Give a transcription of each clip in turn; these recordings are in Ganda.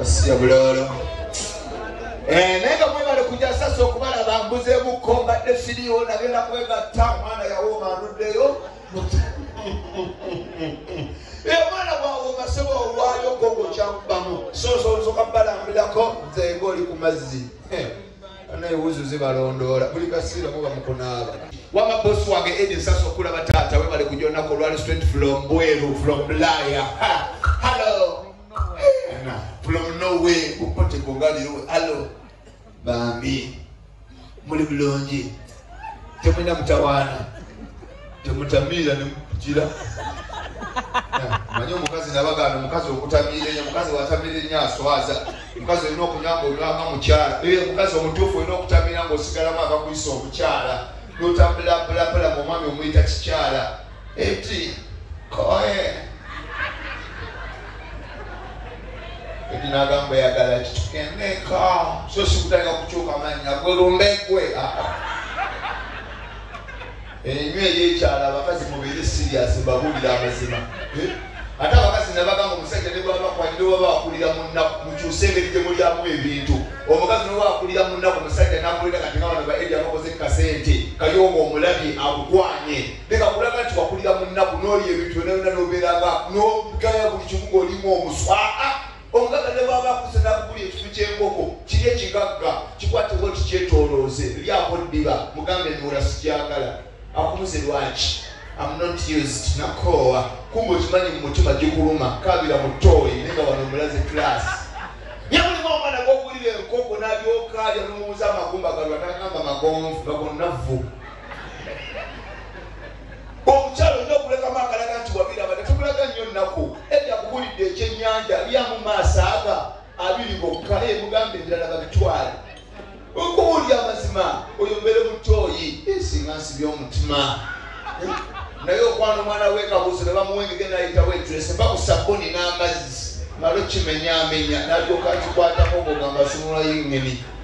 asiya bulolo eh, naye nga mwebale kuja sasa okubala bambuzemuko mbadde siriwo nagenda kwegatta omwana yawooma anuddeyo eh, omwana bwawooma seba owaayo gogo kyakubamu sososoka balambirako nzenga oli ku mazzi eh. naye wuzu zibalondoola buli kasiira muba mukunaaba wama bosi wange edi nsasa okulaba taata webale kujonako olwali straight from bweru from bulaya hallo from nowe kupote kungaliro hallo bambi muli bulungi temulina mutawaana temutamiira nemugira manye omukazi nabagana omukazi okutamiira enyo omukazi watamiira enyo aswaza omukazi olina okunywa nga olwanga mukyala e omukazi omutuufu olina okutamiira nga osigalamu agakuyisa omukyala notambulabulapala mu omwami omuyita kikyala eti koye eti nagamba yagala kitukeneka so sikutandika kukyuka manya gwe lumbe gwe enywa eyekyala abakazi mubiri sirias mbabulira amazima eh? ate abakazi nabagamba omusajja nebwabakwalire oba bakulira munaku mukyuse engeri gyemulyamu ebintu omukazi noba akulira munaku omusajja nakulira kati nga bano baedi abakoze kukasente kayonga omulabye akukwanye Leka kulaga nti wakulira mu nnaku n'olya ebintu byonna byonna n'obeera nga n'ogaya buli kimu ng'olimu omuswa. Aa omugagga ne bw'aba akuze n'akugulira ekifu ky'enkoko kiri ekigagga kikwatibwa nti kyetoolooze lyako ddiba mugambe nuula sigyagala akumuze lwaki am not used nakoowa kumba okimanyi mu mutima gikuluma kaabira mu tooyi naye nga wano omulaze kiraasi yamulimu omwana gw'ogulira enkoko n'alyoka alya n'omuwuza amagumba galwa n'agamba magonvu nga gonnavvu omukyalo olina okulekamu akalaga nti wabiraba netumulaga nnyo nnaku edda kubulidde ekyenyanja lyamu maaso aga abiri gokka naye mugamba ebirala babitwale okuwulira amazima oyo mbeere mutoyi esinga nsi byomutima naye okwana omwana wekabuuzo nebamuwengege nayitawo etrese bakusabuni n'amazzi malo kimenyamenya nalyoka kikwatako ogogamba sunula yengeni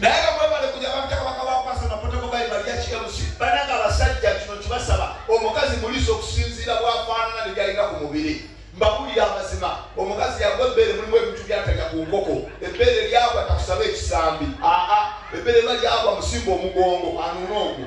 naye nga mwebale kuja bamita kabaka bakwasa napotako bayibali ya kmc bananga abasajja kino kibasaba omukazi muliisa okusinziira bwafaanana nebyalina ku mubiri mbabulira amazima omukazi yagwa ebbeere mulimu ebintu byataja ku nkoko ebbeere lyagwa takusaba ekisambi aa ebbeere ba lyagwa musimba omugongo anuuna ogwo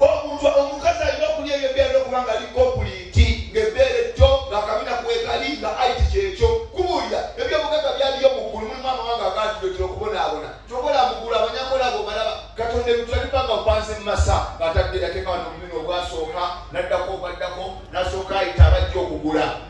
omuntu omukazi alina okulya ebyo byalina okuba nga ali kompuliti ngaebbeere jjo ngaakabina kwekali nga aiti kyekyo kubuulira ebyobugaga byaliyo muggulu mulimu amawanga agatudotera okubonaabona kyokola muggulu abanyakolabo balaba katonda ebitwalipanga bupanze mu masa ngaatadde yateekawa nomununo ogwasooka naddako ogwaddako nasooka ayita abajja okugula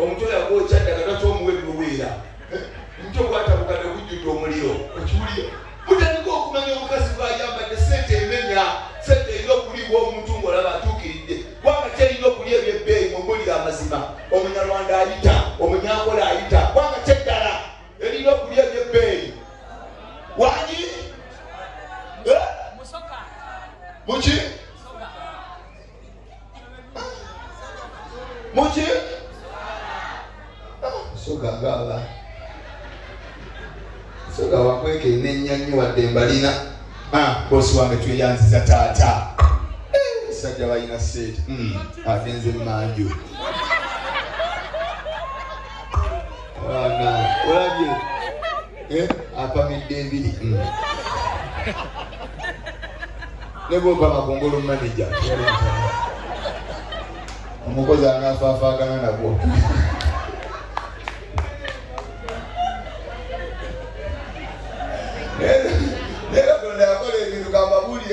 Omutwe yagwokya dda nga takyomuwa ennuweera. Omutwe gwatabuka ne gujjudde omuliro. Okiwulira? Mutandike okumanya omukazi bw'ayambadde, ssente emenya, ssente erina okuliibwa omuntu ng'olaba atuukiridde. Ggwanga terina okulya eby'ebbeeyi. Mumbuulire amazima. Omunyarwanda ayita, Omunyankole ayita. Ggwanga ki eddala eririna okulya eby'ebbeeyi? Wangi? Eh? Muki? muki sogagala soga wakweka enenya nyo wadde mbalina ah, bosi wange tweyanziza taata eh, sajja balina sente hmm, agenze manju olabye Eh, apamidde ebiri hmm. nebwobama kungulu manaja omukozi anafaafagana nagwo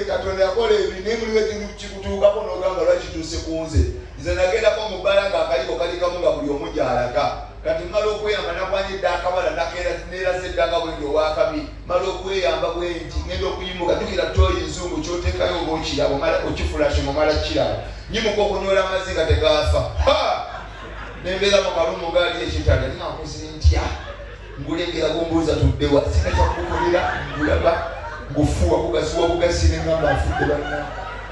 katonda yakola ebiri naye mulimu ekintu kikutuukako nogamba lwakituuse ku nze nze nagendako mu bbala nga akaliko kalikamu nga buli omu gyalaga Kati mmala okweyamba nakwanya edda akawala nakeera neeraze edda nga bwendi owakabi mmala okweyamba bwenti ngenda okuyimuka jukira tooyi nzungu kyoteekayo oba okiraba omala okifulashe nga omala kiraba nyimuka okunywera amazzi nga tegaafa nembeera mu kalumu ngaali ekitanda ni nkoze ntya ngulengera gumbuuza tuddewa sina kyakukolera ngulaba ngufuwa kugasiwa bugasi nengamba afudde banna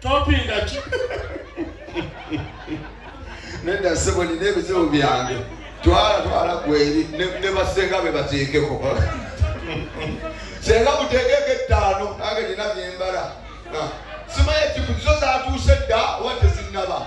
topinga ki nedda sebo nina ebizibu byange twala twala kweri ne basenga be bateekeko senga muteekeko ettaano nange nina byembala simaye kikuzo zatuuse dda oba tezinaba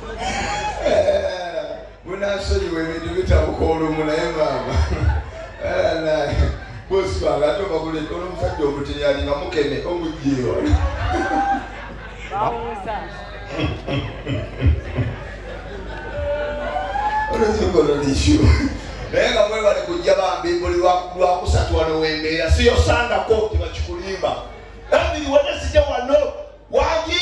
munasonyiwa ebintu bitabuka olumu naye maama bosibanga ate obaguleka olomusajja omuteyali nga mukene omujewa olwekikolonisu naye nga mwebale kujja bambi buli lwakusatu wano wembeera siyosangako tibakikulimba nabiri wene sija wano wagi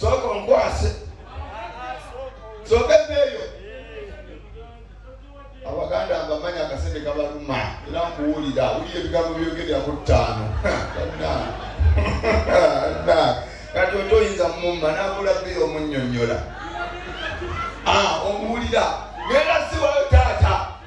sooka onkwase sooka ebeeyo abaganda mbamanya akasente kabaluma era nkuwulira wulira ebigambo byogerera ku ttaano kati oto oyinza mumma nabula beeyo omunyonyola ah, omuwulira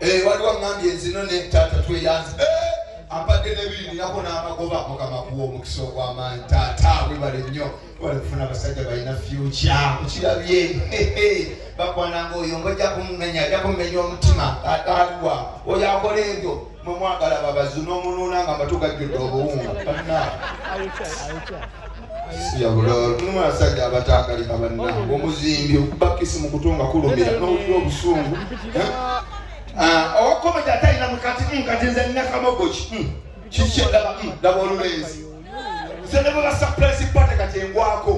Eh, waliwo aŋambye nzino ne taata tweyanzi eh, ampadde nebirinako n'amagoba mukama kuwa omukisa ogw'amaanyi taata webale nnyo webale kufuna abasajja balina fyukya okirabye bakwananga oyo ngaojja kumumenya ajja kumumenya omutima ataalwa oyo akola ebyo mwemwagala babazi n'omunuuna nga mbatugajjudde obuwunga siyabulaabasajja abataagalika bannange omuzimbi okubakisi mu kutu nga kulumira nowulira obusungu eh? ah, owakomedi atalina mukati mm, kati nze nina kamogo ki mm, kikyedaba mm, laba olulenzi nze ne baba surprise party kati engwako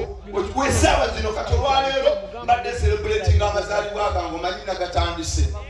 wesaawa zino kati olwaleero mbadde celebrating amazaalibwa gange omanyi nagatandise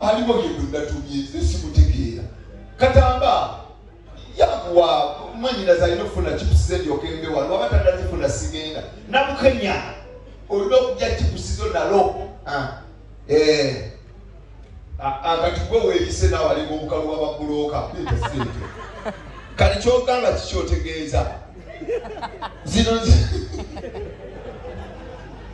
aliwo yegwe natumye nze simutegeera katamba yakuwa mwanyinaza alina okufuna kipusize ndyoka embe wano waba tanazifuna sigenda namukenya olina okuja kipusizo nalo ah, eh. akati gwe weyise nawe alinga omukalu wababuloka sente kali kyogamba kikyotegeeza zino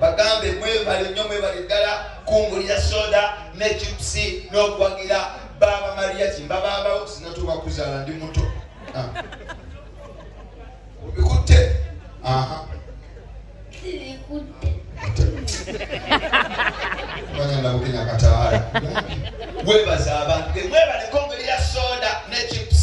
bagambe mwebale nnyo mwebale ddala kungulira soda ne chipusi n'okuwagira baaba maria kimba baabawo sinatuuka kuzaala ndi muto ah. obikutte aha bagenda bukenya kataala webaza abantu emwebalekongeri ya soda ne chips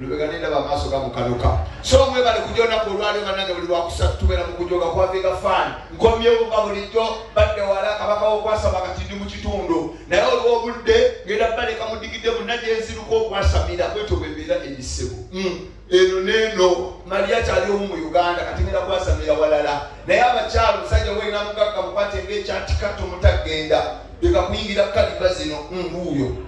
lubega nendaba amaaso gamukanuka so mwebale kuja olunaku olwalio banange buli lwakusatu tubeera mu kujoga kwaviga faani nkomyewo nga bulijjo badde wala kabaka wokwasama kati ndi mu kitundu naye oliwo obudde ngenda baleka mudigidde munna gyenziruka okwasamira bwetyo bwembeera ebisebu hmm. eno neeno mali akyali omu mu uganda kati ngenda kwasamira walala naye abakyalo omusajja weyina mugagga mukwate ngaekyatikatto mutagenda leka kuyingira kaliba zino mbuuyo hmm,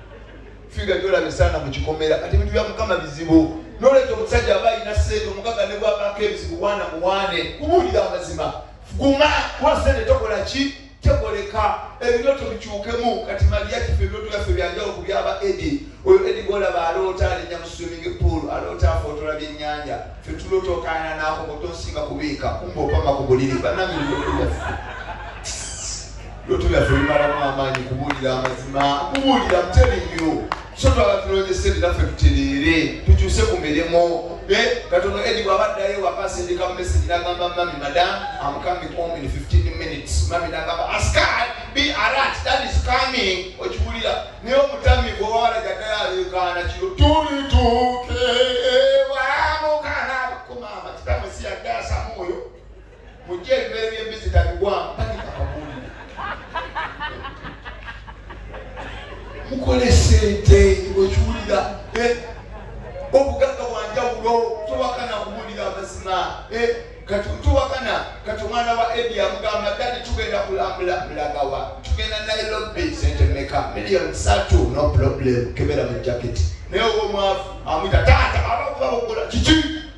figa gyolaba esaana mu kikomera kati ebintu bya mukama bizibu noleeta omusajja aba alina sente omugaga ne bwabako ebizibu wana muwane kubuulira amazima guma kuba sente tokola ki tekoleka ebirooto bikyukemu kati maliya kife ebirooto byaffe byanjawulo ku byaba edi oyo edi golaba aloota alinya mu swimming pool aloota afootola byennyanja fe tuloota okaana naako kotonsinga kubiika kumba opama ku buliri banamiriooto byaffe Looto lyaffe limalamu amaanyi kubuulira amazima, kubuulira muteri nnyo. So twala tulonyese linaffe tutereere, tukyuse ku mirimu. Eh, katono Edi bw'aba addayo waka asindika mu message n'agamba mami madam, I'm coming home in 15 minutes. Mami n'agamba askar be alert that is coming. Okibuulira naye omutami gw'owala gaddayo aleekaana kiro tulituuke. Mujje ebimere by'embizzi tabiwamu tagika kabuulire. Mukole sente okiwulira eh? obugagga bwanjawulo tubakana kubuulira amazima eh? kati tubakana kati omwana wa edi amugamba dadi tugenda kulambula mulagawa tugenda naye lobbi sente meka miliyoni satu no problem kebera mu jaketi naye oba omwavu amwita taata abakuba bukula kiki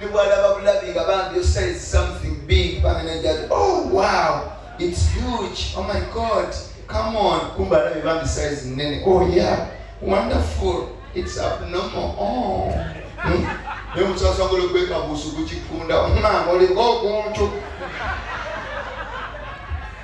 ne bwalaba bulabi nga bambi osai something big bamenajati oh wow it's huge oh my god come on kumba alabi bambi size nene oh yeah wonderful it's abnormal oh hmm? naye omuntu asobola okwekabuusa okukikunda omwana oliko okuntu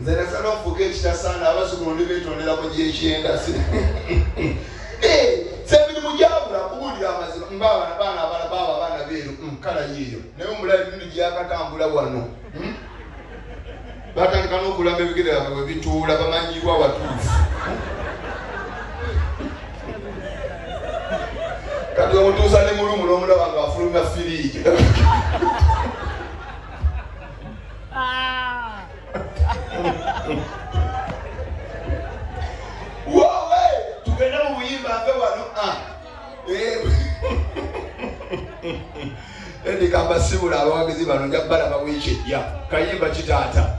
Nze naffe n'okufuuka ekitasaana abazukulu ndi beetondera mu gyekyenda eh, semirimu gyabula kubuulira amazima mbaabana baana abala baaba abaana beeru mm, kala yiiyo naye omulayi mindi gyakatambula wano hmm? batandika n'okulamba ebigere byabe bwe bituula bamanyirwa watuufu kati omutuusa ne mulumu n'omulaba nga afulumya firiigi wowe tugende mu buyimba nve wano ah. eh. endikambasibula abawagizi bano nja balaba wiiki ejja kayimba kitaata